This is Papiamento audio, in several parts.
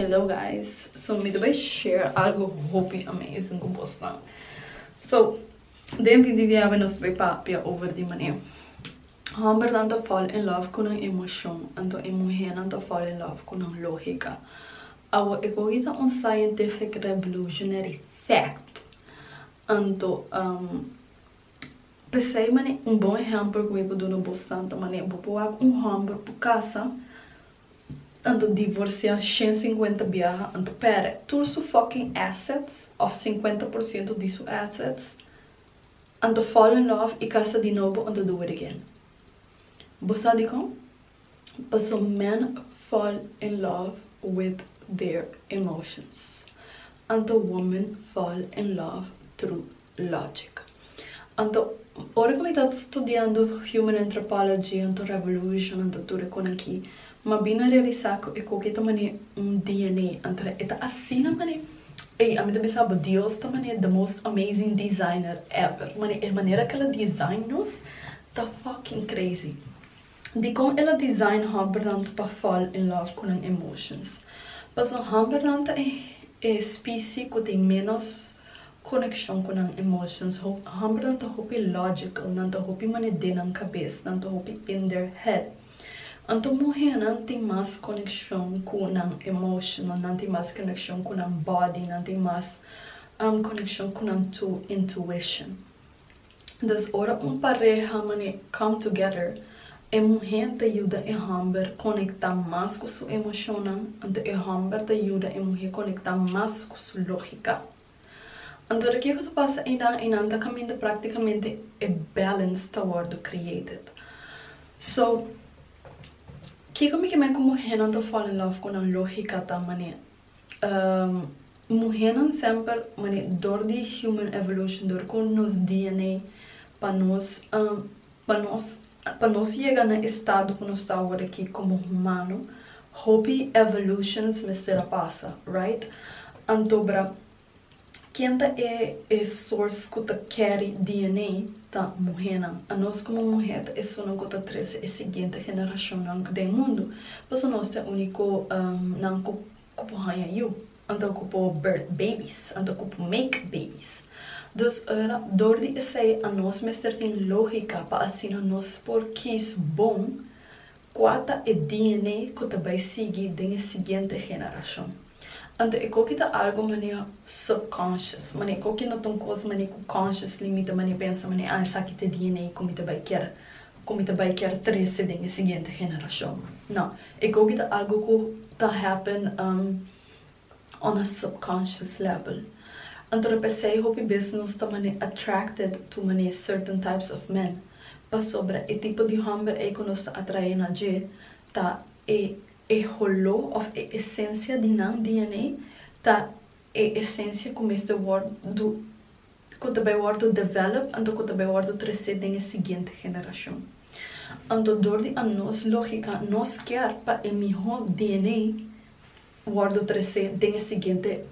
Hello guys so mi ta bai share algo hopi amazing cu bosnan so den fin di diabe nos ta bai papia over di mane hombernan ta fall in love cu nan emocion anto e muhernan ta fall in love cu nan logica awo e cogi ta un scientific revolutionary fact anto pesey mane un bon ehempel cu mi ta duna bosnan ta mane bo ta wak un homber cu casa Anto divorcia shen cincuenta biaha anto pere tur su fucking assets of cincuenta por ciento di su assets anto fall in love y casa di nobo anto do it again bo sa dicon paso men fall in love with their emotions anto women fall in love through Logic. Anto, ora ku mi ta studiando Human Anthropology, anto Revolution, anto tur e konan ki, m'a bin a realisá ku e koke ta man'é un DNA. Anto e ta asina man'é. Ey, a mi ta bisa bo, Dios ta man'é the most amazing designer ever. Man'é, e manera k'el a design nos ta fucking crazy. Dikon el a design Humberland pa fall in love ku nan emotions? Paso Humberland ta e specie ku tin menos konekshon ku nan emotions. Humberland ta hopi logical, nan ta hopi mane den nan kabes, nan ta hopi in their head. Anto muhénan tin mas konekshon ku nan emotional, nan tin mas konekshon ku nan body, nan tin mas konekshon ku nan intuition. Dus ora un pareha manera come together, e muhé ta yuda e hòmber konektá mas ku su emoshonnan, anto e hòmber ta yuda e muhé konektá mas ku su lógika. Anto de ke ku ta pasa einan? Einan ta kaminda práktikamente e balance ta wòrdu created. So, kiko mi ke mai ku muhénan ta fall in love ku nan lógika ta manera? muhénan semper mane dor di human evolution dor ku nos DNA pa nos pa nos pa nos yega na e stado ku nos ta awor aki komo humano hopi evolutions mester a pasa right antobra Ken ta e e source cu ta carry DNA? Ta muhernan. A nos como muher ta esunnan cu ta trece e siguiente generacionnan den mundo. Paso nos ta e unico nan cu cu por haya yu. Anto cu por birth babies. Anto cu por make babies. Dus ora dor di esey a nos mester tin logica pa asina nos por kies bon Kua ta e DNA ku ta bai sigui den e siguiente generashon? Anto ecoki ta algo manera subconscious, manera ecoki no ta un kos manera ku consciously mi ta manera pensa manera ah esaki ta e DNA ku mi ta bai kier ku mi ta bai kier trese den e siguiente generashon. No, ecoki ta algo ku ta happen on a subconscious level. Anto ta p'esei hopi bes nos ta mane attracted to mane certain types of men, pasobra e tipo di homber ei ku nos ta atrae na dje ta e e holó òf e esensia di nan dna, ta e esensia ku mester wòrdu ku ta bai wòrdu develop anto ku ta bai wòrdu tresé den e siguiente generashon. Anto dor di anos lógika nos kier pa e mihó dna. Wordo tresé den e siguiente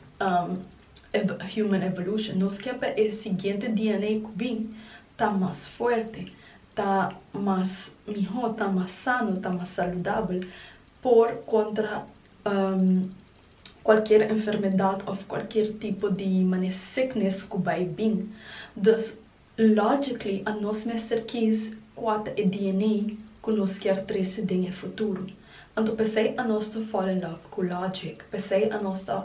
Human Evolution, nos ke pa e siguiente DNA ku bin ta mas fuerte, ta mas mihó, ta mas sano, ta mas saludabel por kontra kualkier enfermedat òf kualkier tipo di manera sickness ku bai bin. Dus Logically a nos mester kies kua ta e DNA ku nos kier trese den e futuro. Anto p'esei a nos ta fall in love ku logic, p'esei a nos ta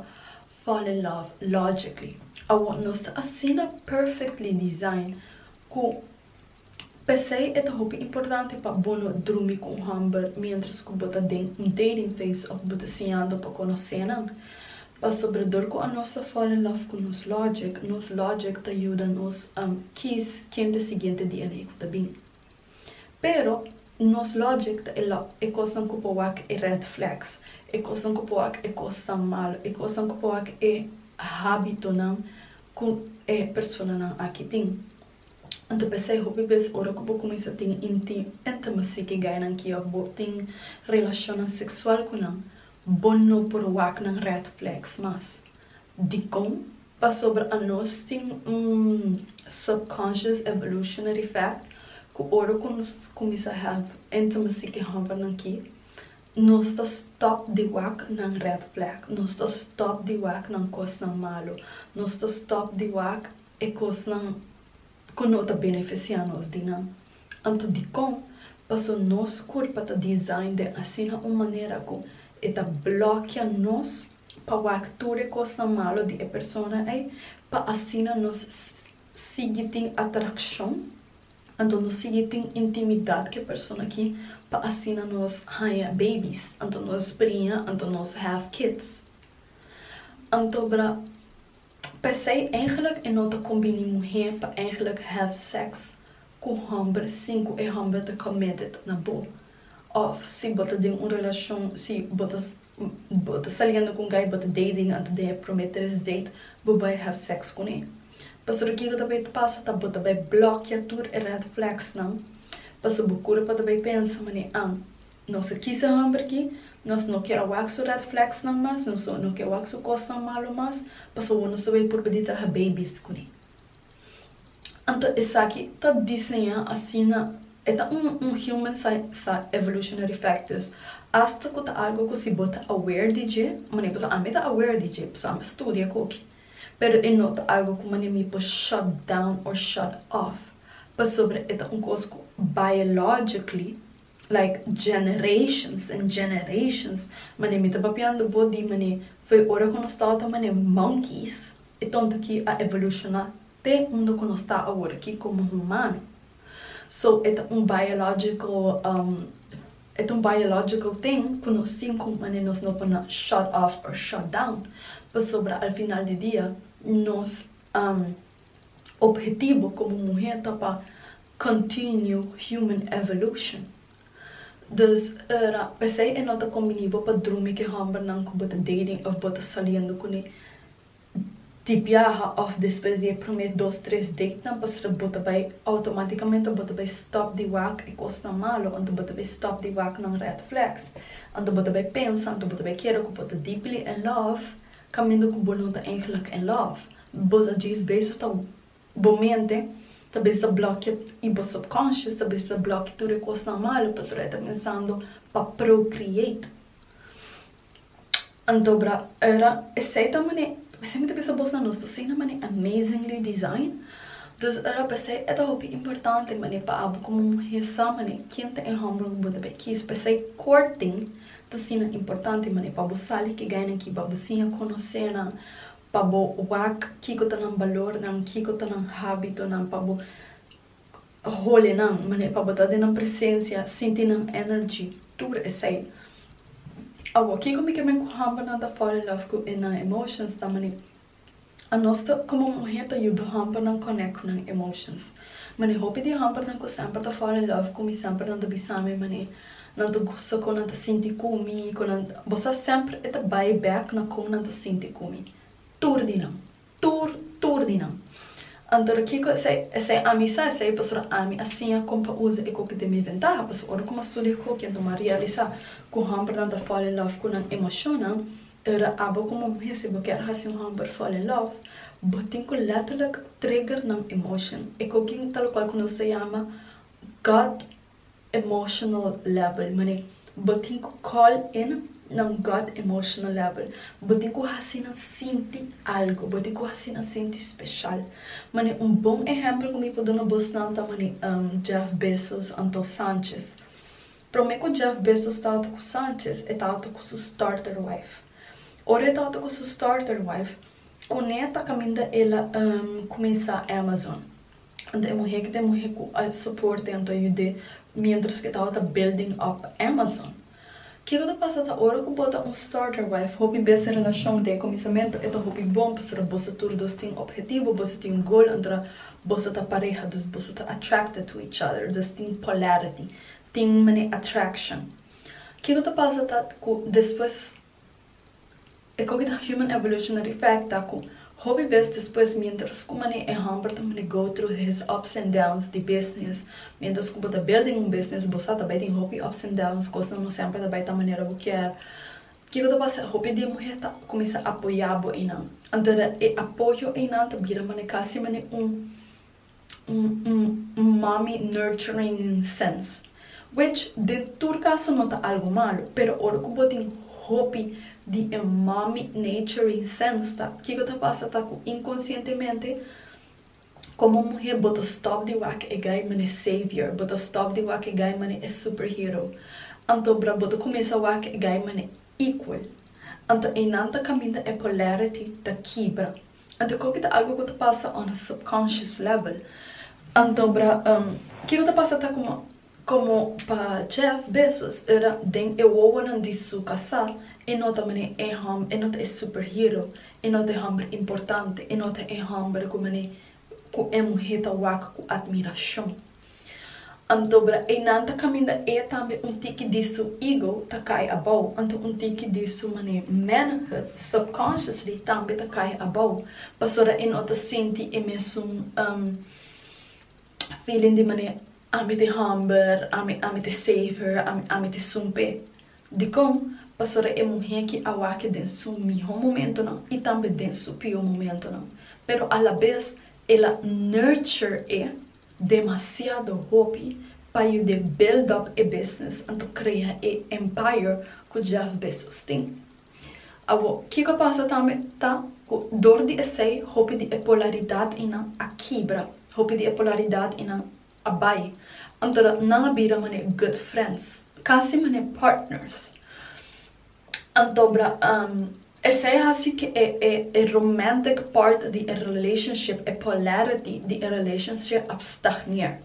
fall in love logically. Awor nos ta asina perfectly design ku p'esei e ta hopi importante pa bo no drumi ku un hòmber mientras ku bo ta den un dating phase òf bo ta siñando pa konosenan. Pasobra dor ku anos ta fall in love ku nos logic, nos logic ta yuda nos kies kende e siguiente dianan ei ku ta bin. Pero, nos logic ta e lo, e kosnan ku por wak e red flags, e kosnan ku por wak e kosnan malu, e kosnan ku por wak e hábitonan ku e personanan aki tin. Anto p'esei hopi bes ora ku bo kuminsá tin inti intimacy ku e gainan ki òf bo tin relashonnan seksual ku nan, Bo no por wak nan red flags mas. Dikon? Pasobra anos tin un subconscious evolutionary fact ku ora ku nos kuminsa hèp intimacy ki hòmber nan ki, nos ta stòp di wak nan red flag, nos ta stòp di wak nan kosnan malu, nos ta stòp di wak e kosnan ku no ta benefisiá nos di nan. Anto dikon? Paso nos kurpa ta design den asina un manera ku e ta blòkia nos pa wak tur e kosnan malu di e persona ei, pa asina nos sigui tin atrakshon, anto nos sigui tin intimidat ku e persona aki, pa asina nos haña babies, anto nos priña, anto nos have kids. Anto bra. P'esei eingelik e no ta kombini muhé pa eingelik have sex ku hòmber sin ku e hòmber ta committed na bo. Òf si bo ta den un relashon, si bo ta bo ta saliendo ku un guy, bo ta dating anto den e promé tres date bo bai have sex kuné. Pasobra kiko ta bai pasa ta bo ta bai blòkia tur e red flagsnan. Pasobra bo kura pa ta bai pensa, Man'é an Nos a kisa hòmber ki, nos no ke a wak su red flagsnan mas, nos no ke a wak su kosnan malu mas, pasobra nos ta bai purba di traha baby's ku mi. Anto esaki ta diseñá asina, e ta un un human sai sa evolutionary factors, asta ku ta algu ku si bo ta aware di dje, mane paso ami ta aware di dje, paso ami a studia ku oki, pero e no ta algu ku mane mi por shut down or shut off, pasobra e ta un kos ku biologically, Like generations and generations mane mi ta papiando bo di mane foi ora ku nos tawata mane monkeys e tonto ki a evolushona te unda ku nos ta awor ki komo humano so e ta un biological um e ta un biological thing ku nos tin ku mane nos no por na shut off or shut down pasobra al final di dia nos um Ophetibo komo muher ta pa continue human evolution. Dus ora p'esei e no ta kombini bo pa drumi ke hòmbernan ku bo ta dating òf bo ta saliendo kuné di biaha òf despues di e promé dos tres datenan pasobra bo ta bai outomatikamente bo ta bai stòp di wak e kosnan malu anto bo ta bai stòp di wak nan red flags anto bo ta bai pensa anto bo ta bai kere ku bo ta deeply in love kaminda ku bo no ta eindelijk in love. Bo ta djis bezig ta bo mente ta bezig ta blokia y bo subconscious ta bezig ta blokia tur e cosnan malo pasobra e ta pensando pa procreate. Anto bra ora esey ta mane mi siempre ta pensa bosnan nos ta asina mane amazingly design dus ora pesey e ta hopi importante mane pa abo como muhe sa mane ken ta e homber cu bo ta bay kiss pesey courting ta asina importante mane pa bo sali ki gaynan ki pa bo siña conocenan Pa bo wak kiko ta nan balornan, kiko ta nan hábitonan, pa bo hole nan, manera pa bo ta den nan presencia, sinti nan energy, tur esei. Awo, kiko mi ke men ku hòmber nan ta fall in love ku e nan emotions ta manera anos ta komo muhé ta yuda hòmber nan connect ku nan emotions. Ma den hopi di hòmbernan ku semper ta fall in love ku mi semper nan ta bisa mi man'é nan ta gusta kon nan ta sinti ku mi kon nan bo sa semper e ta bai bèk na kon nan ta sinti ku mi tur di nan tur tur di nan antora kiko esei esei ami sa esei pastor ami a siña kon pa usa e kokitu mi ventaha pasobra ora ku mi a studia ku hokian ta mi a realisá ku hòmbernan ta fall in love ku nan emoshonnan. Ora abo komo muhesnan bo kier hasi un homber fall in love, bo tin ku letterlik trigger nan emotion. E kokin ta lokual ku nos ta yama God emotional level, manera bo tin ku call in nan God emotional level. Bo tin ku hasi nan sinti algu, bo tin ku hasi nan sinti speshal. Manera un bon ehempel ku mi por duna bosnan ta manera Jeff Bezos anto Sanchez. Prome ku Jeff Bezos tabata ku Sanchez, e tabata ku su starter wife. Ora e tabata ku su starter wife, kuné ta kaminda el a kuminsá Amazon? Anto e muhé ki ta e muhé ku a soport'é, anto a yud'é miéntras ku e tabata building up Amazon. Kiko ta pasa ta ora ku bo ta un starter wife, hopi bes e relashon den e kuminsamentu e ta hopi bon pasobra boso tur dos tin ophetibu, boso tin gol, anto boso ta pareha, dus boso ta attracted to each other, dus tin polarity. Tin mene attraction. Ke ku ta pasa ta ku despues e koki ta human evolutionary fact ta ku hopi bes despues mientras ku mane e homber ta mane go through his ups and downs di business mientras ku bo ta building un business bo sa ta bai tin hopi ups and downs kosnan no semper ta bai ta manera bo kier ke ku ta pasa hopi di e muher ta kuminsá apoyá bo einan anto e apoyo einan ta bira mane kasi mane un Mami nurturing sense which den tur caso no ta algo malo pero ora cu bo tin hopi di e mami naturing sense ta kico ta pasa ta cu inconscientemente como muhe bo ta stop di wak e guy mane savior bo ta stop di wak e guy mane e super hero anto bra bo ta cuminsa wak e guy mane equal anto eynan ta caminda e polarity ta kibra Anto koke ta algo ku ta pasa on a subconscious level? Anto bra kiko ta pasa ta kuma komo pa Jeff Bezos era den e wowonan di su kasá e no ta mane e hom e no ta e superhero e no ta e hòmber importante e no ta e hòmber ku mane ku e muhé ta wak ku admirashon. Anto bra einan ta caminda e tambe un tiki di su ego ta cay abao, anto un tiki di su mane manhood subconsciously tambe ta cay abao pasobra e no ta sinti e mesun um feeling di mane ami te homber, ami ami te safer, ami ami te sumpe. Dicon? Pasobra e muhe ki a wak den su miho momentonan y tambe den su pio momentonan pero a la bes el a nurture e demasiado hopi pa yu den build up e business anto crea e empire cu Jeff Bezos tin. Awor kico pasa tambe ta cu dor di esey hopi di e polaridad inan a kibra, hopi di e polaridad inan a bay, anto dat nan a bira mane good friends, casi mane partners. Anto bra am. Esei hasi cu e e e romantic part di e relationship, e polarity di e relationship a stagneer.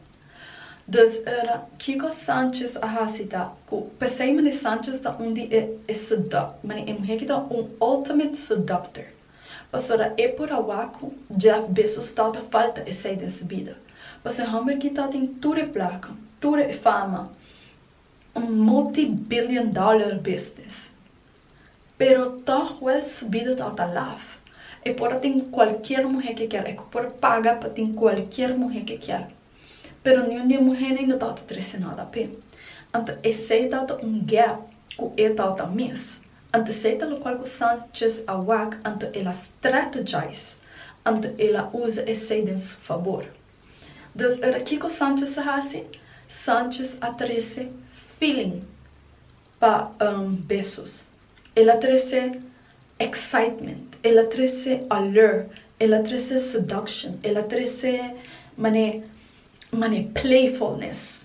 Dus ora kico Sanchez a hasi ta cu, pesey meneer Sanchez ta un di e e sedu, meneer e muher cu ta un ultimate seductor, pasobra e por a wak cu Jeff Bezos ta ta falta esey den su bida, pasobra e homber aki ta tin tur e placa, tur e fama, un multi billion dollar business pero tog wel subido ta ota laf e por a tin cualkier muhe ke kier e cu por paga pa tin cualkier muhe ke kier pero niun di e muhenan no ta ota trece no dapé anto esey ta ota un gap cu e ta ota mis anto esey ta locual cu Sanchez a wak anto el a strategize anto el a uza esey den su fabor. Dus ora kiko Sanchez a hasi? Sanchez a trese feeling pa besos. El a trese excitement, el a trese allure, el a trese seduction, el a trese mane mane playfulness.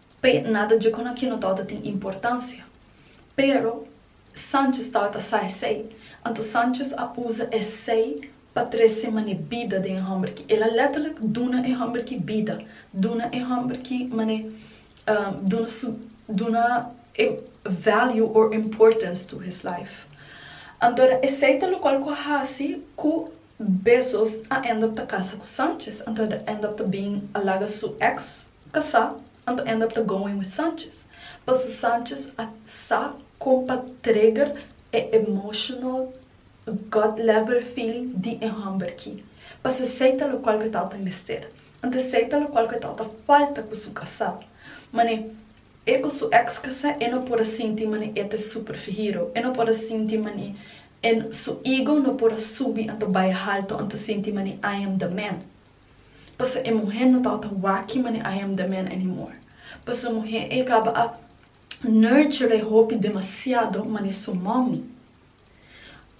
Pe nada dje con aquino tao ta tin importancia. Pero Sanchez tao ta sa esey. Anto Sanchez a uza esey pa trece mane bida den e homberki. El a letterlijk duna e homberki bida. Duna e homberki mane duna su duna e value or importance to his life. Antora esey ta locual cu a haci cu Bezos a end up ta casa cu Sanchez. Anto el a end up ta bin a laga su ex Ta sa, anto Endap ta going with Sanchez, paso Sanchez a sa con pa trigger e emotional gut level feeling di e homber ki, paso esey ta locual cu e tata mester, anto esey ta locual cu e tata falta cu su casa, mane e cu su ex casa e no por a sinti mane e ta e super fihiro, e no por a sinti mane e su ego no por a subi anto bay halto anto sinti mane I am the man. Paso e muhé no tabata waki mane I am the man anymore. Paso e muhé ei kaba a nurture e hopi demasiado mane su mommy.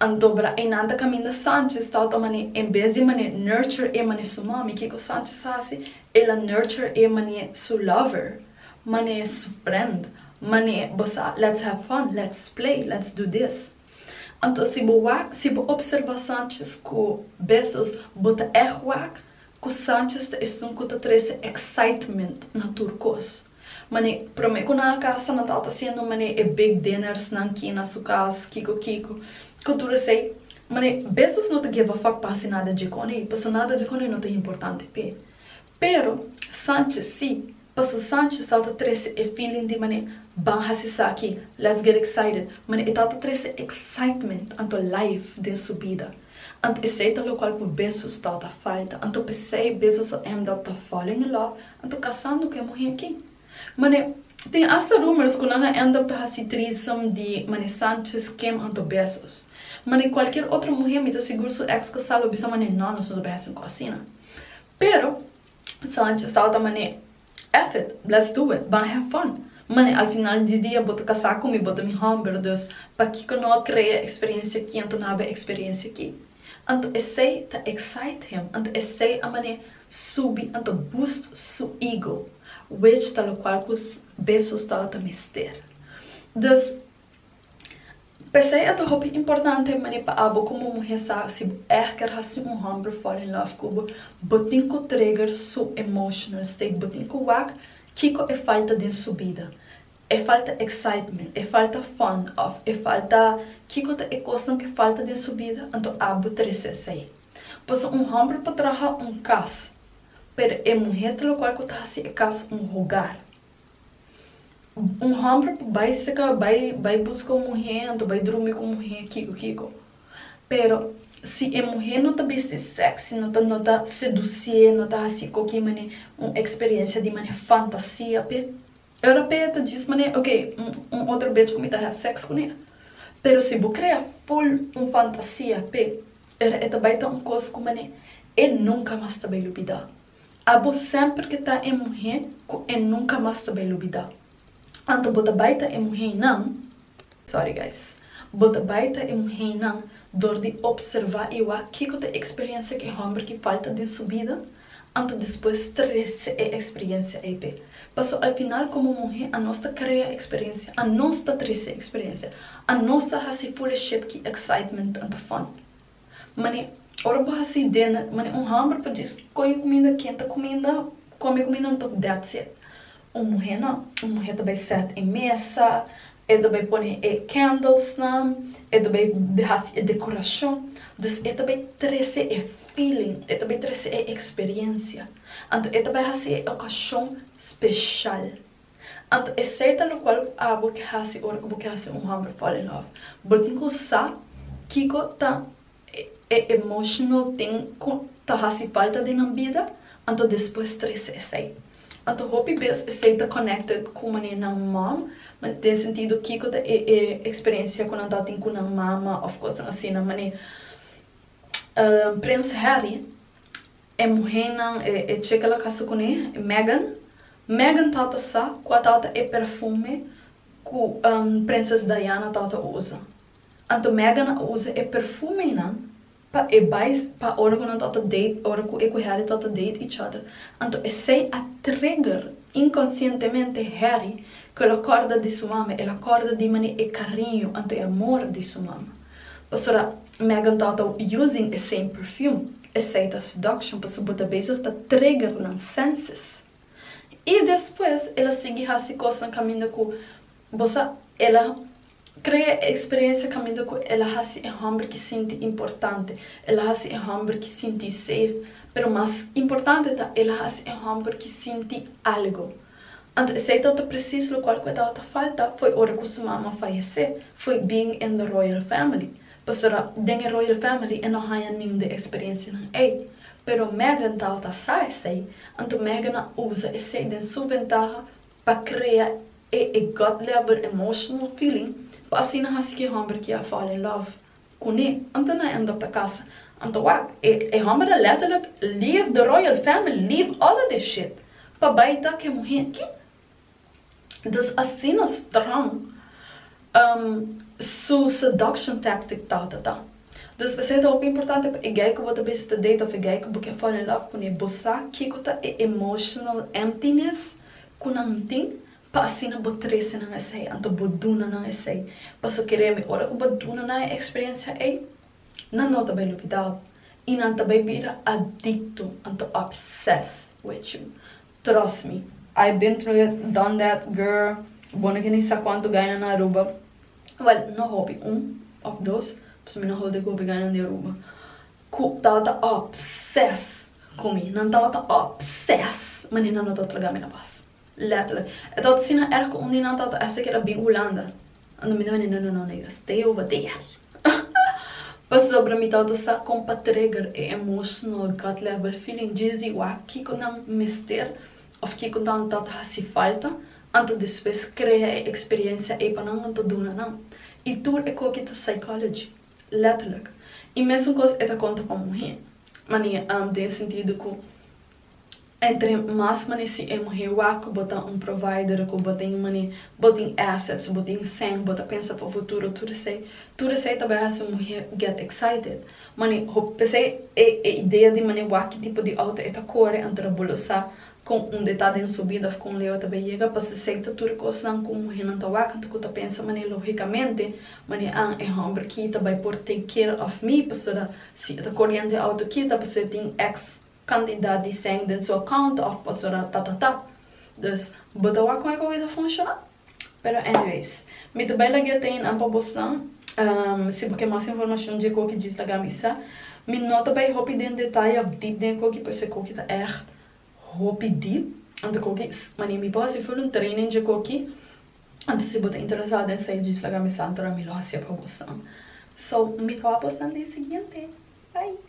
Anto bra einan ta kaminda Sanchez tabata mane en bes di mane nurture e mane su mommy kiko Sanchez hasi el a nurture e mane su lover mane su friend mane bosa let's have fun let's play let's do this. Anto si bo wak, si bo observa Sanchez ku Bezos, bo ta èg wak ku Sanchez ta esun ku ta trese excitement na tur kos. Manera promé ku nan a kasa, nan tabata hasiendo manera e big dinners nan ki na su kas, kiko kiko, ku tur esei. Manera Bezos no ta geva fak pa hasi nada dje konei, paso nada dje konei no ta importante p'e. Pero, Sanchez si, paso Sanchez tabata trece e feeling di mane, Ban haci esaki, let's get excited, mane e tabata trece excitement anto life den su bida. Anto esey ta locual cu Bezos tabata falta, anto pesey Bezos a end up ta falling in love, anto casando cu e muhe aki. Mane, tin hasta rumors cu nan a end up ta haci threesome di mane Sanchez, Kim anto Bezos. Mane cualkier otro muhe mi ta sigur su ex casal lo bisa mane no, nos no ta behas tin cu asina. Pero, Sanchez tabata man'é, Eff it, let's do it, ban have fun. Man'é, al final di dia bo ta kasá ku mi, bo ta mi hòmber, dus pakiko no a krea eksperiencia aki anto no a haba eksperiencia aki? Anto esei ta excite him, anto esei a man'é subi, anto boost su ego, which ta lokual ku besos tabata mester. Dus, P'esei a ta hopi importante manera pa abo komo muhé sa si bo ègt ker hasi un hòmber fall in love ku bo, bo tin ku trigger su emotional state, bo tin ku wak kiko e falta den su bida. E falta excitement, e falta fun òf e falta kiko ta e kosnan ku e falta den su bida, anto abo ta rese esei. Pasobra un hòmber por traha un kas, pero e muhé ta lokual ku ta hasi e kas un hogar. Un homber por bai saka bai bai buska un muhe anto bai drumi ku un muhe kiko kiko pero si e muhe no ta bisti sexy no ta no ta sedusie no ta hasi ko ki mane un experiencia di mane fantasia pe ora pe ta djis mane ok un un otro bitch ku mi ta have sex kune pero si bo krea full un fantasia pe ora e ta bai ta un kos ku mane e nunka mas ta bai lubida. Abo semper ke ta e muhe ku e nunka mas ta bai lubida. Anto bo ta bai ta e muheinan, sorry guys, bo ta bai ta e muheinan dor di opservá i wak kiko ta e eksperensia ku e hòmber ki falta den su bida, anto despues trese e eksperensia ei p'e. Paso al final komo muhe anos ta krea eksperensia, anos ta trese eksperensia, anos ta hasi fule shet ki excitement anto fòn. Mane, ora bo hasi den, mane un hòmber pa djis koyo kuminda, ken ta kuminda, kome e kuminda antòg dat sèt. Un muhé nò, un muhé ta bai sèt e mesa, e ta bai pone e kèndelsnan, e ta bai hasi e dekorashon. Dus e ta bai trese e feeling, e ta bai trese e eksperiensia. Anto e ta bai hasi e okashon speshal. Anto esei ta locual cu abo ke haci ora cu bo ke haci un homber fall in love. Bo tin cu sa kico ta e emotional tin cu ta haci falta den nan bida, anto despues trece esei. Anto hopi bes esei ta connected cu mane nan mom, den sentido kico ta e e experiencia cu nan ta tin cu nan mama of cosnan asina. Mane Prins Harry E muhénan e cheka la kasa kuné, Meghan. Meghan tabata sa kua tabata e perfume ku Prinses Diana tabata usa. Anto Meghan a usa e perfume einan pa e bai pa ora ku nan tabata date, ora ku e ku Harry tabata date each other. Anto esei a trigger inkonsientemente Harry ku el a kòrda di su mama, el a kòrda di manera e kariño, anto e amor di su mama. Pasobra Meghan tabata using e same perfume. esei ta seduction pasobra bo ta bezig ta trigger nan senses y despues el a sigui haci cosnan caminda cu bo sa el a crea e experiencia caminda cu el a haci e homber ki sinti importante el a haci e homber ki sinti safe pero mas importante ta el a haci e homber ki sinti algo. Anto esei ta ota presis lokual ku e dao ta falta foi ora ku su mama fayesé, foi bin en lo royal family, pasobra den e royal family e no haña nin di e eksperensianan ei. Pero Meghan dao ta sa esei, anto Meghan a usa esei den su ventaha pa krea e e gut level emotional feeling pa asina hasi ki e hòmber kia a fall in love. Kuné, anto na èndop ta kasa. Anto wak, e hòmber a lètterlik leave the royal family, leave all of this shit, pa bai ta ku e muhé. Kin? Dus asina strong su seduction tactic ta ta ta. Dus esei ta hopi importante pa e guy ku bo ta bisita date of e guy ku bo ke fall in love kuné. Bo sa kiko ta e emotional emptiness ku nan tin? Pa asina bo trese nan esei, anto bo duna nan esei. Paso keremi, ora ku bo duna nan e eksperensia ei, nan no ta bai lupidá bo, i nan ta bai bira adikto, anto obsessed with you. Trust me. I been through it, done that, girl. Bo no ke ni sa kuantu gaina na Aruba. Wèl, no hopi, un of dos, paso mi no hold dik hopi gainan di Aruba, ku tabata obsessed ku mi. Nan tabata obsessed, ma ni nan no ta traga mi na pas. Letterlijk. E tabata asina erg ku un di nan tata Esther keda bin Hulanda. Anto mi ta mende, No, no, no, nega, stay over there. Pasobra mi tabata sa kon pa trigger e emotional gut level feeling djis di wak kiko nan mester òf kiko nan ta hasi falta, anto despues krea e eksperensia ei pa nan, nan ta duna nan. I tur e koki ta psychology. Letterlijk. I mesun kos e ta konta pa muhé. Mane, den e sentido ku Entre mas manera si e muhé waku bo ta un provider ku bo tin manera bo tin assets, bo tin sèn, bo ta pensa pa futuro, tur esei, tur esei ta bai hasi un muhé get excited. Manera hopi p'esei e e idea di manera waki tipo di outo e ta kore anto bo lo sa kon unda e ta den su bida òf kon leu e ta bai yega, pasobra esei ta tur kosnan ku muhénan ta wak anto ku ta pensa manera lógikamente manera an e hòmber ki ta bai por take care òf mi pasobra si e ta koriendo e outo ki ta pasobra e tin ex Candidat di seng den su account of pastoral ta ta ta. Dus bo ta wak con e ta funciona? Pero anyways. Mi ta bay lag'e te nan pa bosnan. Si bo ke mas informacion dje koki djis laga mi sa. Mi no ta bay hopi den detaye of deep den e koki pues e koki ta echt hopi deep. Anto koki mane mi por haci full un training dje koki. Anto si bo ta interesa den sa djis laga mi sa antora mi lo hacia pa bosnan. So mi ta wak bosnan den siguiente. Bye.